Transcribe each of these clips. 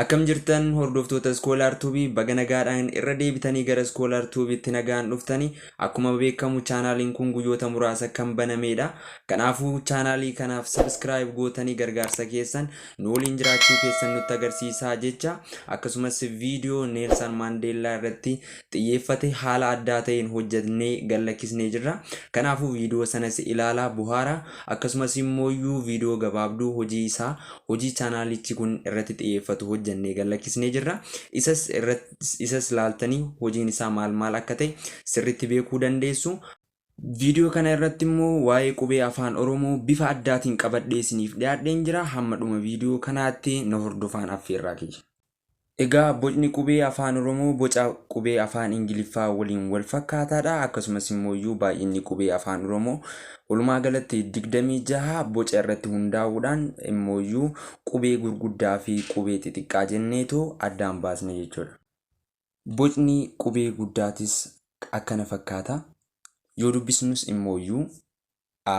Akkam jirtan hordoftoota Scholar Tube baga nagaadhaan irra deebitanii gara Scholar Tube itti nagaan dhuftanii akkuma beekamu chaanaaliin kun guyyoota muraasa kan banameedha. Kanaafuu chaanaalii kanaaf subscribe gootanii gargaarsa keessan nu waliin jiraachuu keessan nutti agarsiisaa jecha akkasumas viidiyoo Neelsan Maandeellaa irratti xiyyeeffate haala addaa ta'een hojjatnee gallakkisnee jirra. Kanaafuu viidiyoo sanas ilaalaa buhaara akkasumas immooyyuu viidiyoo gabaabduu hojii isaa hojii chaanaalichi kun irratti xiyyeeffatu hojjannee gallakkisnee jirra. Isas irratti isas laaltanii hojiin isaa maal maal akka ta'e sirriitti beekuu dandeessu. Viidiyoo kana irratti immoo waa'ee qubee afaan Oromoo bifa addaatiin qabadhee isiniif dhiyaadheen jira. Hamma dhuma viidiyoo kanaatti na hordofaan affeerraa kiyya. Egaa bocni qubee Afaan Oromoo boca qubee Afaan Ingiliffaa waliin wal fakkaataadha. Akkasumas immooyyuu baay'inni qubee Afaan Oromoo walumaa galatti 26 boca irratti hundaa'uudhaan immooyyuu qubee gurguddaa fi qubee xixiqqaa jenneetoo addaan baasna jechuudha. Bocni qubee guddaatis akkana fakkaata. Yoo dubbisnus immooyyuu A,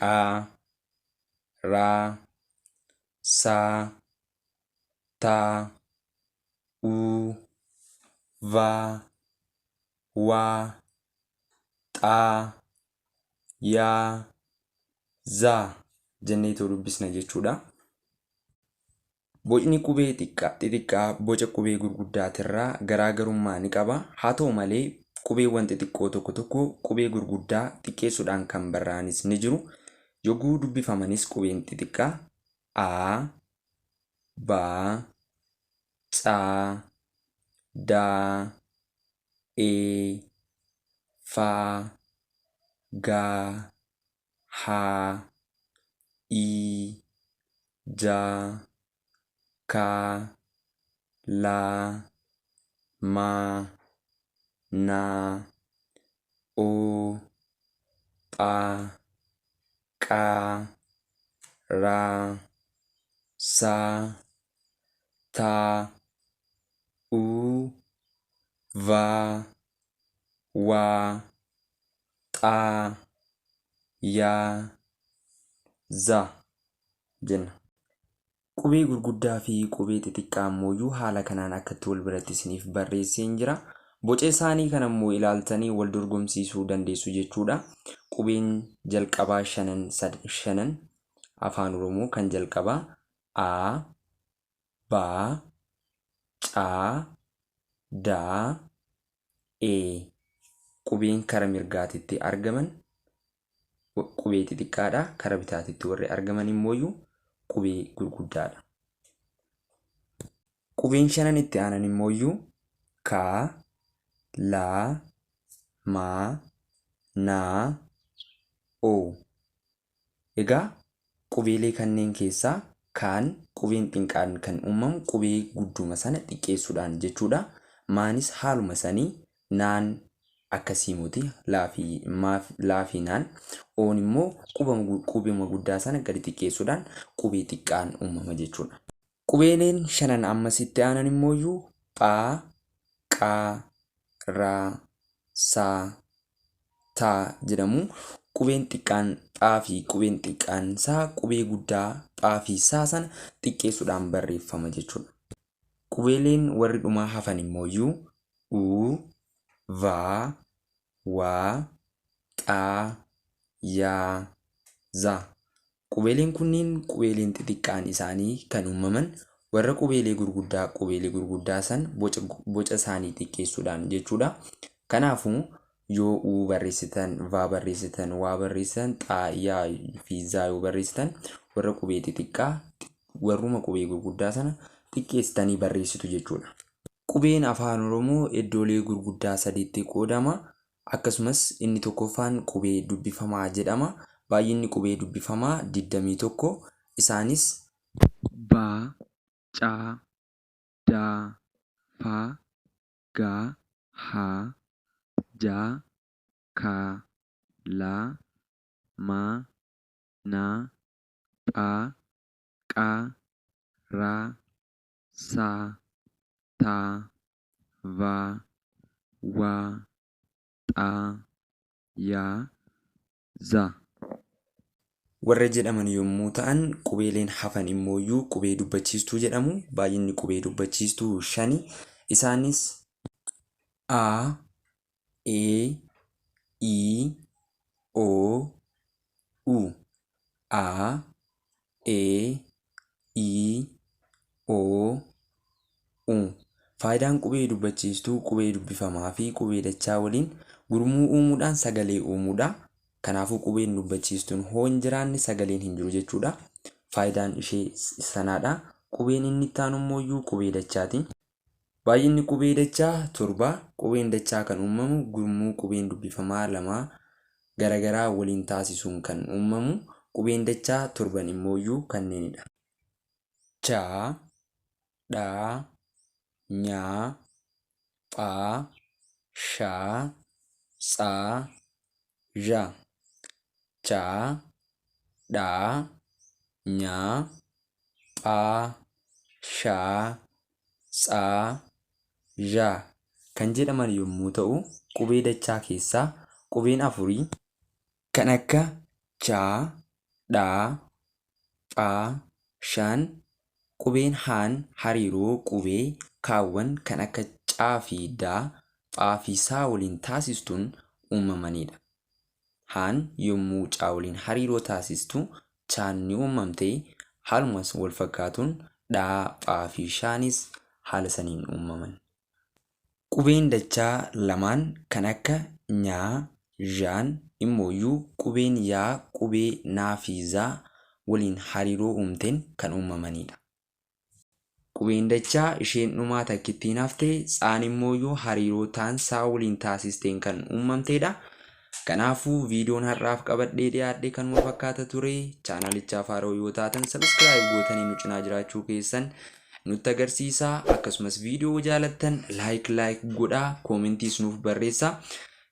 qa ra sa ta u va wa xa ya za jenneetoo dubbisna jechuudha. Bocni qubee xixiqqaa boca qubee gurguddaatirraa garaa garummaa ni qaba. Haa ta'u malee, qubeewwan xixiqqoo tokko tokko qubee gurguddaa xiqqeessuudhaan kan barraa'anis ni jiru. Yogguu dubbifamanis qubeen xixiqqaa a, ba, ca, da, e, fa, ga, ha i ja ka la ma na o pa ka ra sa ta u va wa. xaa yaa za jenna. Qubee gurguddaa fi qubee xixiqqaa ammooyyuu haala kanaan akkatti wal biratti isiniif barreesseen jira. Boca isaanii kana immoo ilaaltanii wal dorgomsiisuu dandeessu jechuudha. Qubeen jalqabaa shanan sad shanan afaan oromoo kan jalqabaa a ba ca da e. Qubeen kara mirgaatitti argaman qubee xixiqqaadha. Kara bitaatitti warri argaman immooyu qubee gurguddaadha. Qubeen shanan itti aanan immooyu ka, la, ma, na, o. Egaa qubeelee kanneen keessaa kaan qubeen xinqaan kan uumamu qubee gudduuma sana xiqqeessuudhaan jechuudha. Maanis haaluma sani naan akkasii moti laa fi maaf laa fi naan oon immoo qubama qubeuma guddaa sana gadi xiqqeessuudhaan qubee xiqqaan uumama jechuudha. Qubeeleen shanan ammas itti aanan immooyyuu pha, qha, ra, sa, ta jedhamu. Qubeen xiqqaan pha fi qubeen xiqqaan sa qubee guddaa pha fi sa sana xiqqeessuudhaan barreeffama jechuudha. Qubeeleen warri dhumaa hafan immooyyuu u, va, wa, xa, ya, za Qubeeleen kunniin qubeeleen xixiqqaan isaanii kan uummaman warra qubeelee gurguddaa qubeelee gurguddaa san boca boca isaanii xiqqeessuudhaan jechuudha. Kanaafuu yoo u barreessitan, va barreessitan, waa barreessitan, xaa, yaa fi zaa yoo barreessitan warra qubee xixiqqaa warruma qubee gurguddaa sana xiqqeessitanii barreessitu jechuudha. Qubeen Afaan Oromoo iddoolee gurguddaa sadiitti qoodama. Akkasumas, inni tokkoffaan qubee dubbifamaa jedhama. Baay'inni qubee dubbifamaa 21. Isaanis. ba, ca, da, fa, ga, ha, ja, ka, la, ma, na, pha, qa, ra, sa, ta, va, wa, xa, ya, za. warra jedhaman yommuu ta'an, qubeeleen hafan immooyyuu qubee dubbachiistuu jedhamu. Baay'inni qubee dubbachiistuu shani. Isaanis, a, e i o u a e i o u Faayidaan qubee dubbachiistuu qubee dubbifamaa fi qubee dachaa waliin gurmuu uumuudhaan sagalee uumuudha. Kanaafuu qubeen dubbachiistuun hoo hin jiraanne sagaleen hin jiru jechuudha. Faayidaan ishee sanaadha. Qubeen inni itti aanu immoo iyyuu qubee dachaati. Baay'inni qubee dachaa 7. Qubeen dachaa kan uumamu gurmuu qubeen dubbifamaa lamaa garagaraa waliin taasisuun kan uumamu qubeen dachaa torban immooyyuu kanneenidha. cha, dha, nya, pha, sha, tsa, zha. cha, dha, nya, pha, sha, tsa, zha kan jedhaman yommuu ta'u, qubee dachaa keessaa qubeen afurii kan akka cha, dha, pha, shan, qubeen haan hariiroo qubee kaawwan kan akka ca fi da, pha fi sa waliin taasistuun uumamaniidha. Haan yommuu Chaa waliin hariiroo taasistu Chaan ni uummamte, haaluma wal fakkaatuun Dhaa, Phaa fi Shaanis haala saniin uummaman. Qubeen dachaa lamaan kan akka Nyaa, Zhaan immooyyuu qubeen Yaa qubee Naa fi Zaa waliin hariiroo uumteen kan uummamaniidha. Qubeen dachaa isheen dhumaa takkittiin hafte tsaan immooyyuu hariiroo taan saa waliin taasisteen kan uummamteedha. Kanaafuu viidiyoon har'aaf qabadhee dhiyaadhe kanuma fakkaata ture. Chaanalichaaf haaroo yoo taatan sabiskiraayib gootanii nu cinaa jiraachuu keessan nutti agarsiisa. Akkasumas viidiyoo jaalattan laayik laayik godhaa koomentiis nuuf barreessa.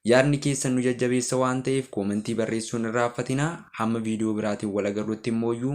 Yaadni keessan nu jajjabeessa waan ta'eef koomentii barreessuun irraaffatina. Hamma viidiyoo biraatiin wal agarrutti immooyyuu